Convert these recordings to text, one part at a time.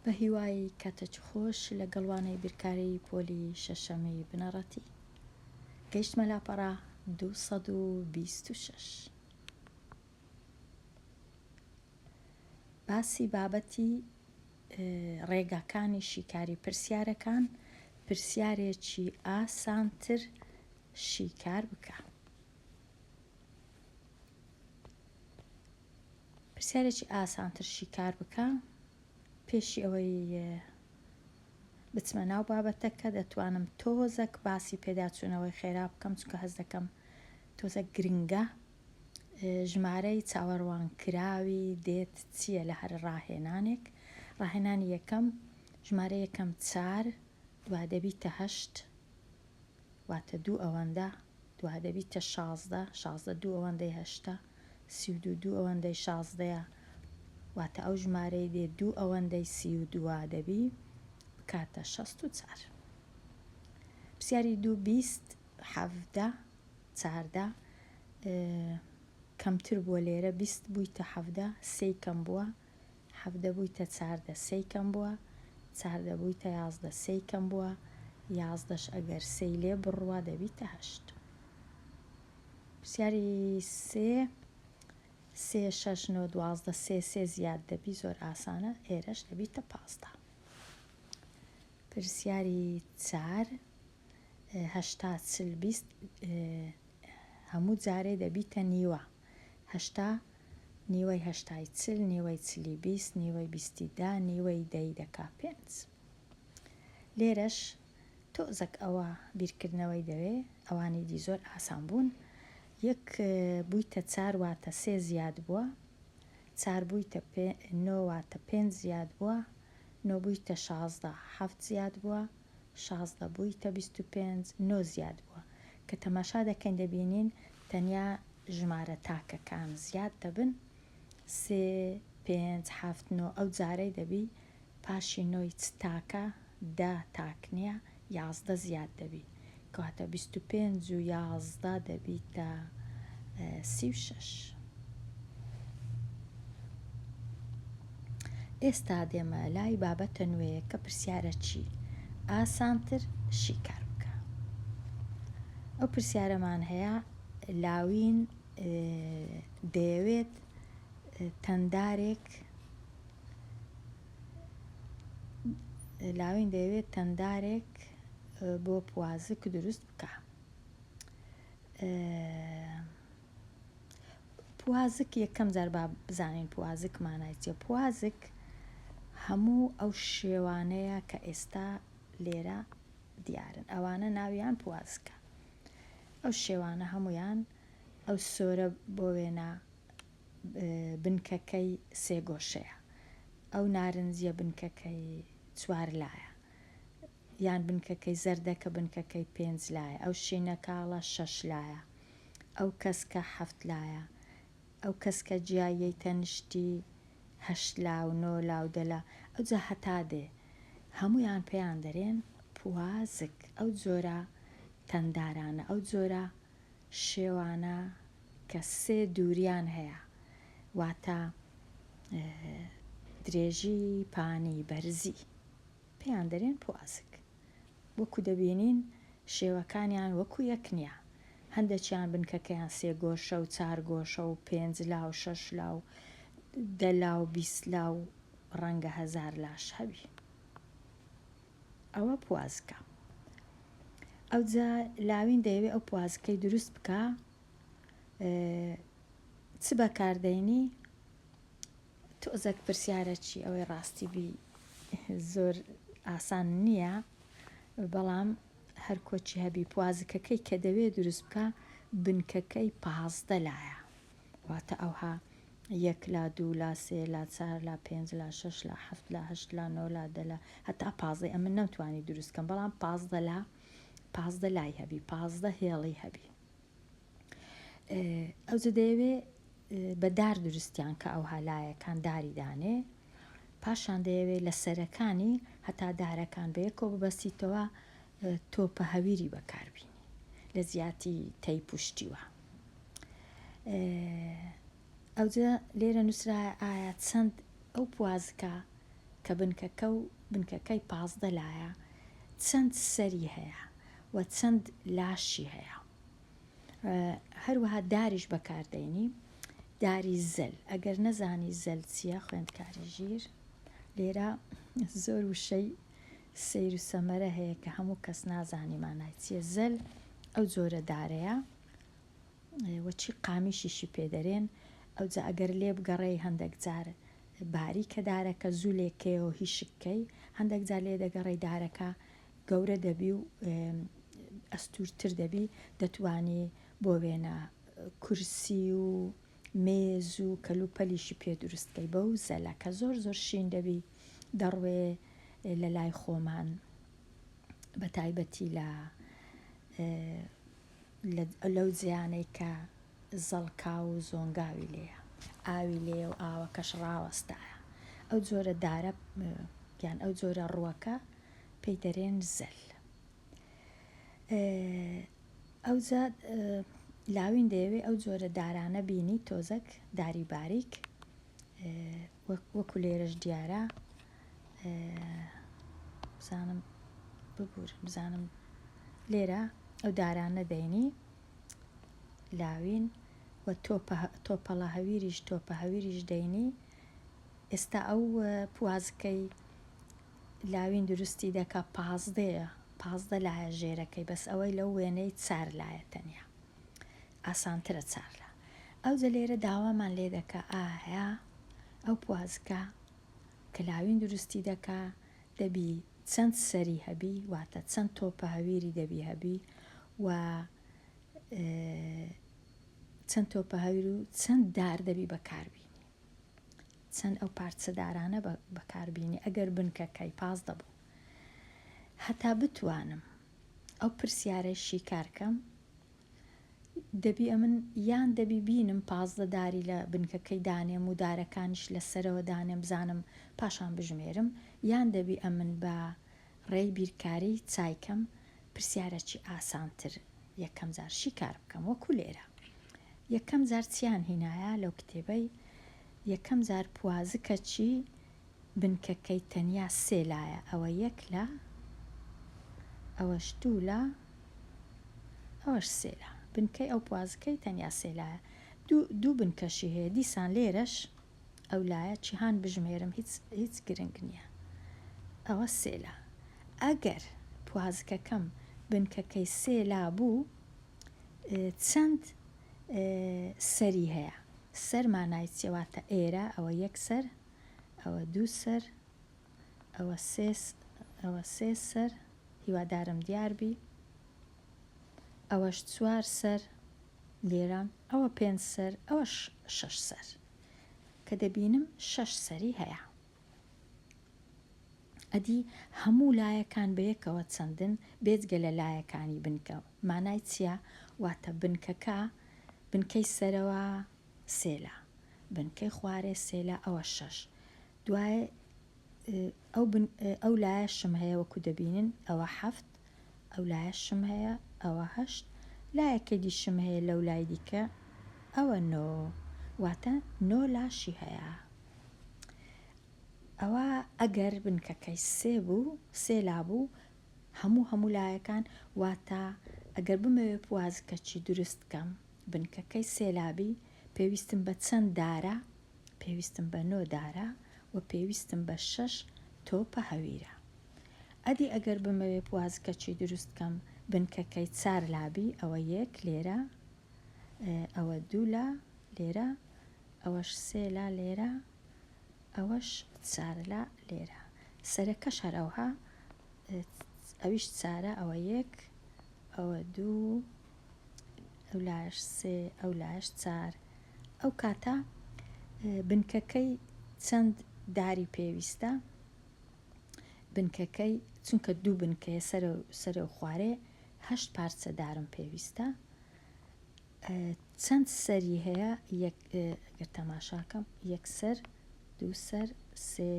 بەهیوای کاتەچ خۆش لەگەڵ وانەی بیرکاری پۆلی شەشەمی بنەڕەتی گەیشتمە لاپەڕە دوو سەد و بیست و شەش باسی بابەتی ڕێگاکانی شیکاری پرسیارەکان پرسیارێکی ئاسانتر شیکار بکە پرسیارێکی ئاسانتر شیکار بکە پێشی ئەوەی بچمە ناو بابەتەکە دەتوانم تۆزەک باسی پێداچوونەوەی خێرا بکەم چونکە هەز دەکەم تۆزە گرنگە ژمارەی چاوەڕوان کراوی دێت چییە لە هەر ڕاهێنانێک ڕاهێنانی یەکەم ژمارە یەکەم چار دوا دەبیتە هەشت واتە دوو ئەوەندە، دوا دەبیتە شازدە، شازدە دوو ئەوەندەی هەشتە، سی و دوو دوو ئەوەندەی شازدەیە، واتە ئەو ژمارەی دێ دوو ئەوەندەی سی و دوا دەبی بکاتە شەست و چار. پرسیاری دوو بیست، حەڤدە، چاردە، کەمتر بووە لێرە بیست بوویتە حەڤدە، سێی کەم بووە، حەڤدە بویتە چاردە سێی کەم بوە چاردە بویتە یازدە سێی کەم بوە یازدەش ئەگەر سێی لێ بڕوا دەبیتە هەشت پرسیاری سێ سێ شەش نۆ دوازدە سێ سێ زیاد دەبی زۆر ئاسانە ئێرەش دەبیتە پازدە پرسیاری چار هەشتا چل بیست هەموو جارێ دەبیتە نیوە هەشتا نیوەی هەشتای چل، نیوەی چلی بیست، نیوەی بیستی دە، نیوەی دەی دەکا پێنج. لێرەش تۆزەک ئەوە بیرکردنەوەی دەوێ، ئەوانی دی زۆر ئاسان بوون. یەک بوویتە چار واتە سێ زیاد بووە، چار بوویتە پێ نۆ واتە پێنج زیاد بووە، نۆ بوویتە شازدە حەفت زیاد بووە، شازدە بوویتە بیست و پێنج، نۆ زیاد بووە. کە تەماشا دەکەین دەبینین تەنیا ژمارە تاکەکان زیاد دەبن، سێ، پێنج، هەفت، نۆ، ئەو جارەی دەبی پاشی نۆی چ تاکە، دە تاک نییە، یازدە زیاد دەبی. کەواتە بیست و پێنج و یازدە دەبیتە سی و شەش. ئێستا دێمە لای بابەتە نوێیەکە پرسیارە چی ئاسانتر شیکار بکە. ئەو پرسیارەمان هەیە لاوین دەیەوێت تەندارێک لاوین دەیەوێت تەندارێک بۆ پوازک دروست بکە پوازک یەکەم جار با بزانین پوازک مانای چیە پوازک هەموو ئەو شێوانەیە کە ئێستا لێرە دیارن ئەوانە ناویان پوازکە ئەو شێوانە هەمویان ئەو سۆرە بۆ وێنە بنکەکەی سێگۆشەیە ئەو نارنجە بنکەکەی چوار لایە یان بنکەکەی زەردە کە بنکەکەی پێنج لایە ئەو شینەکاڵە شەش لایە ئەو کەسکە حەفت لایە ئەو کەسکە جیاییەی تەنشتی هەشت لا و نۆ لا و دە لا ئەوجا هەتا دێ هەموویان پێیان دەرێن پوازک ئەو جۆرە تەندارانە ئەو جۆرە شێوانە کە سێ دووریان هەیە واتە درێژی پانی بەرزی. پێیان دەرێن پوازک. وەکو دەبینین شێوەکانیان وەکو یەک نیە. هەندەکیان بنکەکەیان سێ گۆشە و چار گۆشە و پێنج لا و شەش لا و دە لا و بیست لا و ڕەنگە هەزار لاش هەبی. ئەوە پوازکە. ئەوجا لاوین دەیەوێ ئەو پوازکەی دروست بکا چ بەکار دەینی؟ تۆزەک پرسیارە چی ئەوەی ڕاستی بی زۆر ئاسان نییە بەڵام هەر کۆچی هەبی پوازکەکەی کە دەوێ دروست بکە بنکەکەی پازدە لایە واتە ئەوها یەک لا دوو لا سێ لا چار لا پێنج لا شەش لا حەفت لا هەشت لا نۆ لا دە لا هەتا پازدەی ئەمن نەمتوانی دروستکەم بەڵام پازدە لا پازدە لای هەبی پازدە هێڵی هەبی ئەوجە دەیەوێ بە دار دروستیان کە ئەو هالایەکان داری دانێ پاشان دەیەوێ لە سەرەکانی هەتا دارەکان بە یەکۆ ببەسیتەوە تۆپە هەویری بەکاربیین لە جیاتی تەی پشتیوە ئەوجە لێرە نووسرایە ئایا چەند ئەو پوازکە کە بنکەکە و بنکەکەی پازدە لایە چەند سەری هەیە و چەند لاشی هەیە هەروەها داریش بەکاردێنی داری زەل ئەگەر نەزانی زەل چییە خوێندکاری ژیر لێرە زۆر وشەی سیر و سەمەرە هەیە کە هەموو کەس نازانی مانای چیە زەل ئەو جۆرە دارەیە و چی قامیشیشی پێ دەرێن، ئەوجا ئەگەر لێ بگەڕێی هەندەک جار باریکە دارەکە زوو لێ کەیەوە هی شک کەی، هەندەک جار لێ دەگەڕێی دارەکە گەورە دەبی و ئەستوورتر دەبی، دەتوانی بۆ وێنە کورسی و مێز و کەلوپەلیشی پێ دروست کەی بەو زەلە کە زۆر زۆر شین دەبی دەڕوێ لە لای خۆمان بە تایبەتی لە لەو جێیانەی کە زەڵکاو و زۆنگاوی لێیە، ئاوی لێیە و ئاوەکەش ڕاوەستایە، ئەو جۆرە دارە یان ئەو جۆرە ڕووەکە پێی دەرێن زەل. ئەوجا لاوین دەیەوێ ئەو جۆرە دارانە بینی تۆزەک داری باریک وەکو لێرەش دیارە بزانم ببور بزانم لێرە ئەو دارانە دەینی لاوین و تۆپەڵە هەویریش تۆپە هەویریش دەینی ئێستا ئەو پوازکەی لاوین دروستی دەکا پازدەیە پازدە لایە ژێرەکەی بەس ئەوەی لەو وێنەی چار لایە تەنیا ئاسانترە چارلا ئەو جە لێرە داوامان لێ دەکە ئایا ئەو پوازکە کلاوین دروستی دەکا دەبی چەند سەری هەبی واتە چەند تۆپە هەویری دەبی هەبی و چەند تۆپە هەویر و چەند دار دەبی بەکاربینی چەند ئەو پارچە دارانە بەکاربینی ئەگەر بنکەکەی پاس دەبوو هەتا بتوانم ئەو پرسیارە شیکارکەم دەبی ئەمن یان دەبی بینم پازدە داری لە بنکەکەی دانێم و دارەکانیش لە سەرەوە دانێم بزانم پاشان بژمێرم یان دەبی ئەمن بە ڕێی بیرکاری چایکەم پرسیارە چی ئاسانتر یەکەم جار شیکار بکەم وەکو لێرە یەکەم جار چیان هینایە لەو کتێبەی یەکەم جار پوازکە چی بنکەکەی تەنیا سێ لایە ئەوە یەک لا ئەوەش دوو لا ئەوەش سێ لا بنکەی ئەو پوازکەی تەنیا سێ لایە دوو دوو بنکەشی هەیە دیسان لێرەش ئەو لایە چیهان بژمێرم هیچ هیچ گرنگ نییە ئەوە سێ لا ئەگەر پوازکەکەم بنکەکەی سێ لا بوو چەند سەری هەیە سەر مانای چێواتە ئێرە ئەوە یەک سەر ئەوە دوو سەر ئەوە سێ ئەوە سێ سەر هیوادارم دیار بی ئەوەش چوار سەر لێرە ئەوە پێنج سەر ئەوە شەش سەر کە دەبینم شەش سەری هەیە ئەدی هەموو لایەکان بەیەکەوە چەندن بێجگە لە لایەکانی بنکە مانای چییە واتە بنکەکە بنکەی سەرەوە سێلا، بنکەی خوارێ سێلا ئەوە شەش، دوای ئەو بن ئەو لایە شم هەیە وەکو دەبینن ئەوە حەفت، ئەو لایە شم هەیە ئەوە هەشت، لایەکە دی شم هەیە لەو لای دیکە ئەوە نۆ، واتە نۆ لاشی هەیە. ئەوا ئەگەر بنکەکەی سێ بوو سێلا بوو هەموو هەموو لایەکان واتە ئەگەر بمەوێ پوازکەچی دروست کەم بنکەکەی سێلابی پێویستم بە چەند دارە؟ پێویستم بە نۆ دارە و پێویستم بە شەش تۆپە هەویرە. ئەدی ئەگەر بمەوێ پوازکەچی دروست کەم بنکەکەی چار لابی ئەوە یەک لێرە ئەوە دوو لا لێرە ئەوەش سێ لا لێرە ئەوەش چارە لە لێرە سەرەکەش هەر ئەوها ئەویش چارە ئەوە یەک ئەوە دوو ئەو لاش سێ ئەو لاش چار ئەو کاتە بنکەکەی چەند داری پێویستە بنکەکەی چونکە دوو بنکەیە سەرە سەرە و خوارێ هەشت پارچە دارم پێویستە چەند سەری هەیە یەک گەر تەماشا کەم یەک سەر دوو سەر سێ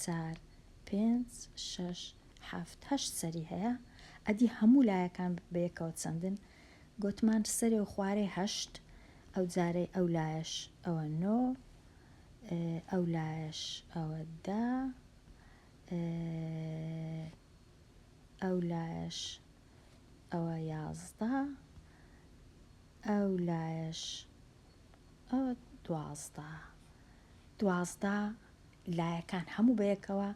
چار پێنج شەش حەفت هەشت سەری هەیە ئەدی هەموو لایەکان بەیەکەوە چەندن گۆتمان سەرێ و خوارێ هەشت ئەو جارەی ئەو لایەش ئەوە نۆ ئەو لایەش ئەوە دا ئەو لایەش ئەوە یازدە ئەو لایەش ئەوە دوازدە دوازدە لایەکان هەموو بەیەکەوە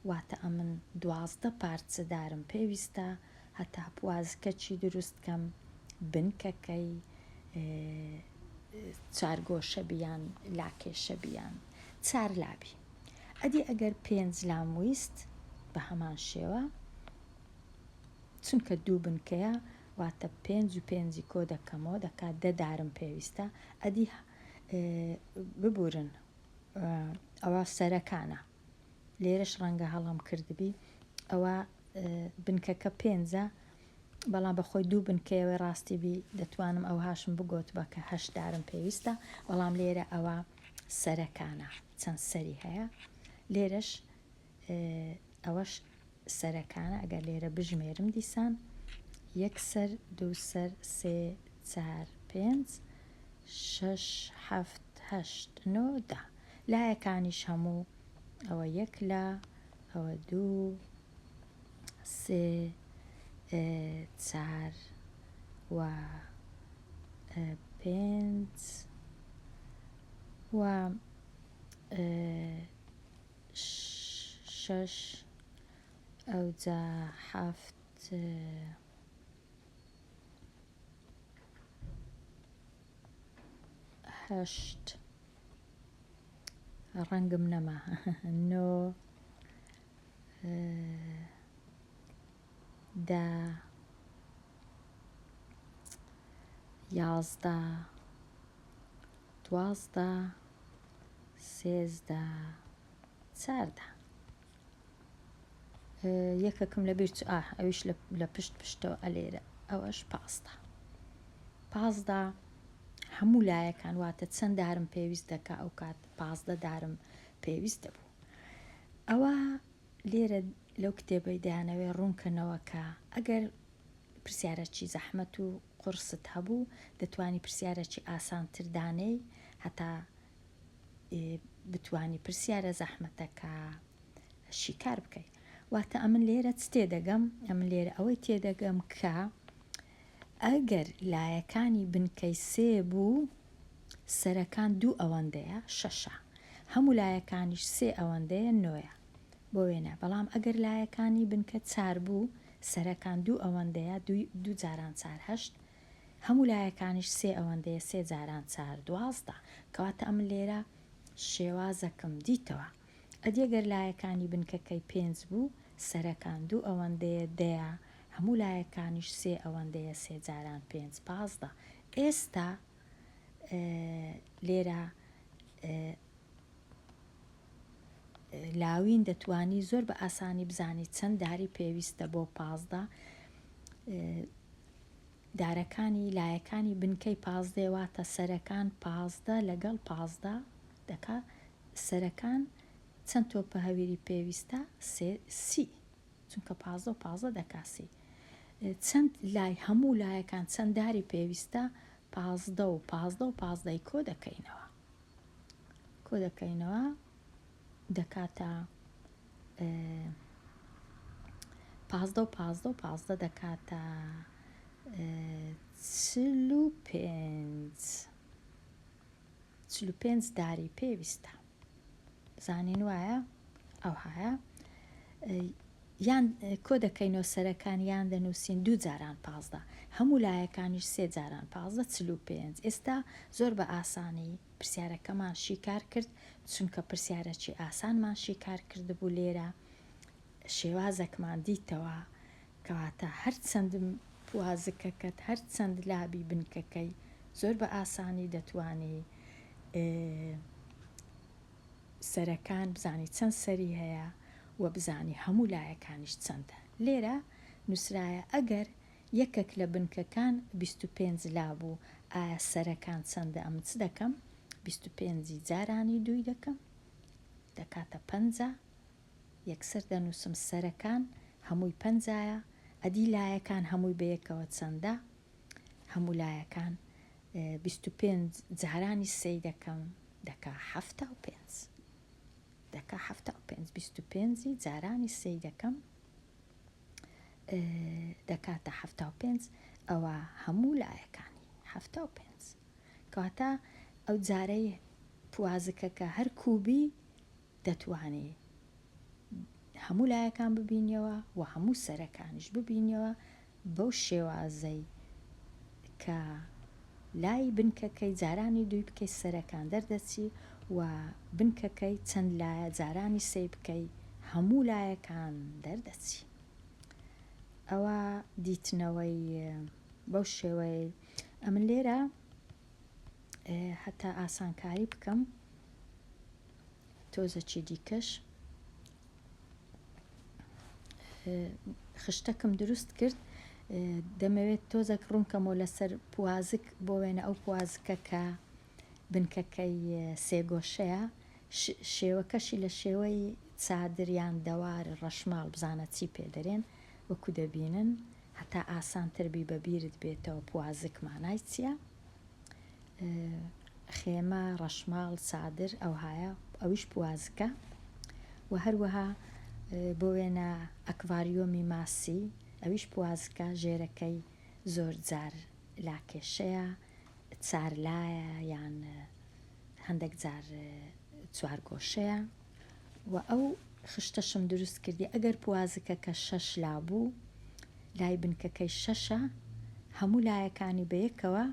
واتە ئەمن دوازدە پارچەدارم پێویستە هەتا پوازکەچی دروستکەم بنکەکەی چارگۆشە بیان لاکێشە بیان چار لابی ئەدی ئەگەر پێنج لام ویست بە هەمان شێوە چونکە دوو بنکەیە واتە پێنج و پێنجی کۆ دەکەمەوە دەکات دە دارم پێویستە ئەدی ببورن ئەوە سەرەکانە لێرەش ڕەنگە هەڵم کردبی ئەوە بنکەکە پێنجە بەڵام بەخۆی دوو بنکەوە ڕاستی بی دەتوانم ئەو هاشم بگوت بە کە هەشدارم پێویستە بەڵام لێرە ئەوە سەرەکانە چەند سەری هەیە لێرەش ئەوەش سەرەکانە ئەگەر لێرە بژمێرم دیسان یەک سەر دوو سەر سێ چار پێنج شەش حەفت هەشت نۆ دا لایەکانیش هەموو ئەوە یەک لا ئەوە دوو سێ چار و پێنج و شەش ئەوجا حەفت هەشت ڕەنگم نەما نۆ دە یازدە دوازدە سێزدە چاردە یەکەکم لە بیرچ ئا ئەویش لە پشت پشتەوە ئەلێرە ئەوەش پاستا پازدا هەموو لایەکان واتە چەند دارم پێویست دەکا ئەو کات پازدە دارم پێویست دەبوو ئەوە لێرە لەو کتێبەی دەیانەوێ ڕوون کەنەوە کە ئەگەر پرسیارەکی زەحمەت و قوڕست هەبوو دەتوانی پرسیارەکی ئاسانتر دانێی هەتا بتوانی پرسیارە زەحمەتەکە شیکار بکەی واتە ئەمن لێرە چ تێدەگەم ئەمن لێرە ئەوەی تێدەگەم کە ئەگەر لایەکانی بنکەی سێ بوو سەرەکان دوو ئەوەندەیە، شەشە. هەموو لایەکانیش سێ ئەوەندەیە، نۆیە. بۆ وێنە، بەڵام ئەگەر لایەکانی بنکە چار بوو، سەرەکان دوو ئەوەندەیە، دووی دوو جاران چار، هەشت. هەموو لایەکانیش سێ ئەوەندەیە، سێ جاران چار، دوازدە. کەواتە ئەمن لێرە شێوازەکم دیتەوە. ئەدی گەر لایەکانی بنکەکەی پێنج بوو، سەرەکان دوو ئەوەندەیە، دەیە. هەموو لایەکانیش سێ ئەوەندەیە، سێ جاران پێنج، پازدە. ئێستا لێرە لاوین دەتوانی زۆر بە ئاسانی بزانی چەند داری پێویستە بۆ پازدە دارەکانی لایەکانی بنکەی پازدێ واتە سەرەکان پازدە لەگەڵ پازدە دەکا سەرەکان چەند تۆپە هەویری پێویستە سی چونکە پازدە و پازدە دەکاسی چەند لای هەموو لایەکان چەند داری پێویستە پازدە و پازدە و پازدەی کۆ دەکەینەوە کۆ دەکەینەوە دەکاتە پازدە و پازدە و پازدە دەکاتە چل و پێنج چل و پێنج داری پێویستە بزانین وایە ئەوهایە یان کۆ دەکەین و سەرەکان یان دەنووسین دوو جاران پازدە هەموو لایەکانیش سێ جاران پازدە چل و پێنج ئێستا زۆر بە ئاسانی پرسیارەکەمان شیکار کرد چونکە پرسیارەکی ئاسانمان شیکار کردبوو لێرە شێوازەکمان دیتەوە کەواتە هەرچەند پوازکەکەت هەرچەند لابی بنکەکەی زۆر بە ئاسانی دەتوانی سەرەکان بزانی چەند سەری هەیە و بزانی هەموو لایەکانیش چەندە لێرە نووسرایە ئەگەر یەکەک لە بنکەکان بیست و پێنج لابوو ئایا سەرەکان چەندە ئەمن چ دەکەم بیست و پێنجی جارانی دووی دەکەم دەکاتە پەنجا یەکسەر دەنووسم سەرەکان هەمووی پەنجایە، ئەدی لایەکان هەمووی بەیەکەوە چەندە؟ هەموو لایەکان بیست و پێنج جارانی سێی دەکەم دەکا حەفتا و پێنج دەکا حەفتا و پێنج بیست و پێنجی جارانی سێی دەکەم دەکاتە حەفتا و پێنج ئەوە هەموو لایەکانی حەفتا و پێنج کەواتە ئەو جارەی پوازکەکە هەر کوبی دەتوانی هەموو لایەکان ببینیەوە و هەموو سەرەکانیش ببینیەوە بەو شێوازەی کە لای بنکەکەی جارانی دووی بکەی سەرەکان دەردەچی و بنکەکەی چەند لایە جارانی سێی بکەی هەموو لایەکان دەردەچی ئەوە دیتنەوەی بەو شێوەیە ئەمن لێرە هەتا ئاسانکاری بکەم تۆزەکی دیکەش خشتەکم دروست کرد دەمەوێت تۆزەک ڕوونکەمەوە لەسەر پوازک بۆ وێنە ئەو پوازکە کە بنکەکەی سێگۆشەیە شێوەکەشی لە شێوەی چادریان دەوار ڕەشماڵ بزانە چی پێدەرێن وەکو دەبینن هەتا ئاسانتربی بەبیرت بێتەوە پوازک مانای چییە؟ خێمە، ڕەشماڵ، چادر ئەوهایە ئەویش پوازکە و هەروەها بۆ وێنە ئەکڤاریۆمی ماسی ئەویش پوازکە ژێرەکەی زۆر جار لاکێشەیە چارلایە یان هەندێک جار چوارگۆشەیە و ئەو خشتەشم دروست کردی ئەگەر پوازکەکە شەش لا بوو لای بنکەکەی شەشە هەموو لایەکانی بەیەکەوە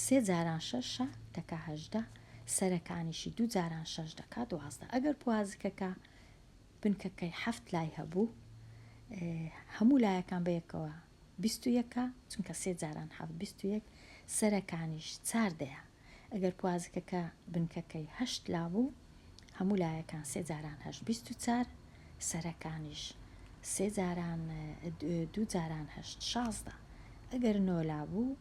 سێ جاران شەشە دەکا هەژدە سەرەکانیشی دوو جاران شەش دەکا دوازدە ئەگەر پوازکەکە بنکەکەی حەفت لای هەبوو هەموو لایەکان بەیەکەوە بیستویەکە چونکە سێ جاران حەفت بیستویەک سەرەکانیش چار دەیە ئەگەر پوازکەکە بنکەکەی هەشت لا بوو، هەموو لایەکان سێ جاران هەشت بیست و چار، سەرەکانیش سێ جاران دوو جاران هەشت شازدە. ئەگەر نۆ لا بوو،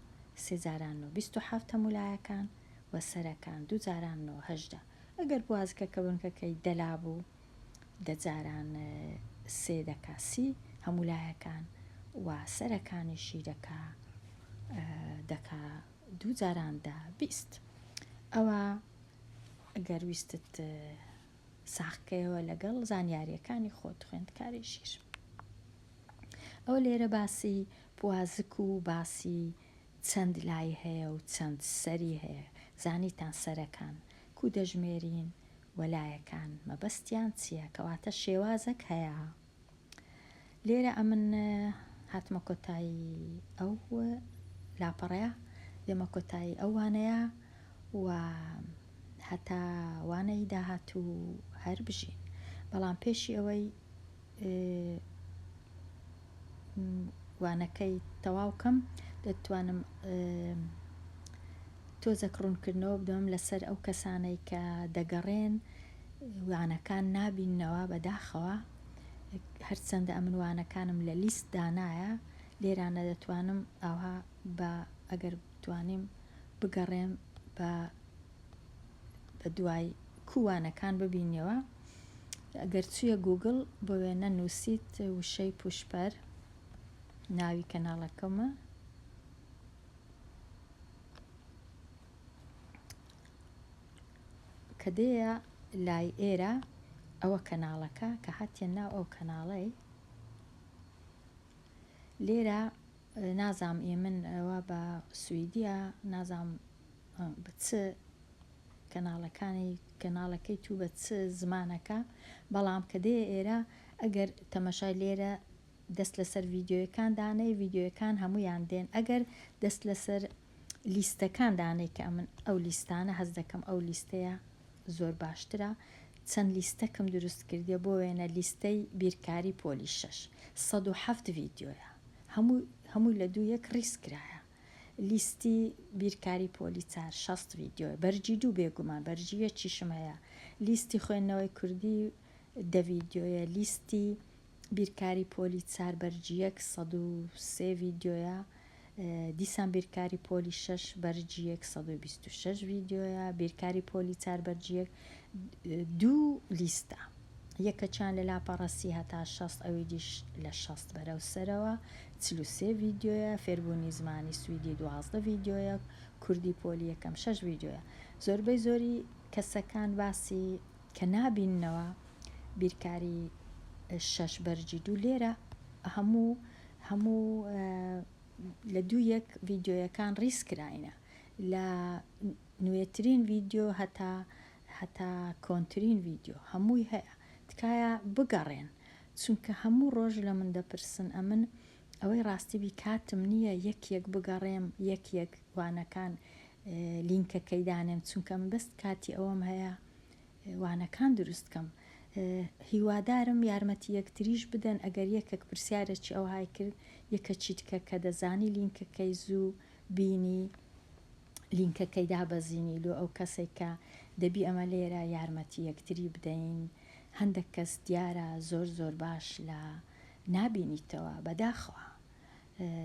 سێ جاران نۆ بیست و حەفت هەموو لایەکان و سەرەکان دوو جاران نۆ هەژدە. ئەگەر پوازکەکە بنکەکەی دە لا بوو، دە جاران سێ دەکا سی هەموو لایەکان و سەرەکانیشی دەکا دەکا دوو جاران دە بیست. ئەوا گەر ویستت ساغکەیەوە لەگەڵ زانیاریەکانی خۆت خوێندکاری ژیر ئەوە لێرە باسی پوازک و باسی چەند لای هەیە و چەند سەری هەیە زانیتان سەرەکان کو دەژمێرین وەلایەکان مەبەستیان چییە کەواتە شێوازەک هەیە. لێرە ئەمن هاتمە کۆتایی ئەو لاپەڕەیە دێمە کۆتایی ئەوانەیە و هەتا وانەی داهات و هەر بژین بەڵام پێشی ئەوەی وانەکەی تەواوکەم دەتوانم تۆزەک ڕوونکردنەوە بدەم لەسەر ئەو کەسانەی کە دەگەڕێن وانەکان نابیننەوە بەداخەوە هەرچەندە ئەمن وانەکانم لە لیست دانایە لێرانە دەتوانم ئاها بە ئەگەر بتوانیم بگەڕێم بە بە دوای کوانەکان ببینەوە ئەگەر چیە گوگل بۆ وێنە نووسیت وشەی پوشپەر ناوی کەناڵەکەمە کە دێیە لای ئێرە ئەوە کەناڵەکە کە هاتیە ناو ئەو کەناڵەی لێرە نازام ئێ من ئەوە بە سوئیدیە نازام بە چ کەناڵەکانی کەناڵەکەی تو بە چ زمانەکە بەڵام کە دێ ئێرە ئەگەر تەمەشای لێرە دەست لەسەر ڤیدیۆیەکان دانێی ڤیدیۆیەکان هەموویان دێن ئەگەر دەست لەسەر لیستەکان دانێ کە ئەمن ئەو لیستانە هەست دەکەم ئەو لیستەیە زۆر باشترە چەند لیستەکم دروست کردیە بۆ وێنە لیستەی بیرکاری پۆلی شەش سەد و حەفت ڤیدیۆیە هەموو هەمووی لە دوو یەک ڕیز کرایە لیستی بیرکاری پۆلی چار شەست ڤیدیۆ بەرجی دوو بێگومان بەرجی یەکیشم هەیە لیستی خوێندنەوەی کوردی دە ڤیدیۆیە لیستی بیرکاری پۆلی چار بەرج یەک سەد و سێ ڤیدیۆیە دیسان بیرکاری پۆلی شەش بەرج یەک سەد و بیست و شەش ڤیدیۆیە بیرکاری پۆلی چار بەرج یەک دوو لیستە یەکەچان لە لاپەڕەسی هەتا شەست ئەوی دیش لە شەست بەرەو سەرەوە چل و سێ ڤیدیۆیە فێربوونی زمانی سویدی دوازدە ڤیدیۆیە کوردی پۆلی یەکەم شەش ڤیدیۆیە زۆربەی زۆری کەسەکان باسی کە نابیننەوە بیرکاری شەش بەرگی دوو لێرە هەموو هەموو لە دوو یەک ڤیدیۆیەکان ڕیز کراینە لە نوێترین ڤیدیۆ هەتا هەتا کۆنترین ڤیدیۆ هەمووی هەیە تکایە بگەڕێن چونکە هەموو ڕۆژ لە من دەپرسن ئەمن ئەوەی ڕاستی بی کاتم نییە یەک یەک بگەڕێم یەک یەک وانەکان لینکەکەی دانێم چونکە من بەس کاتی ئەوەم هەیە وانەکان دروست کەم هیوادارم یارمەتی یەکتریش بدەن ئەگەر یەکەک پرسیارەکی ئەوهای کرد یەکەکی تکە کە دەزانی لینکەکەی زوو بینی لینکەکەی دابەزینی لۆ ئەو کەسەی کە دەبی ئەمە لێرە یارمەتی یەکتری بدەین هەندەک کەس دیارە زۆر زۆر باش لە نابینیتەوە بەداخەوە.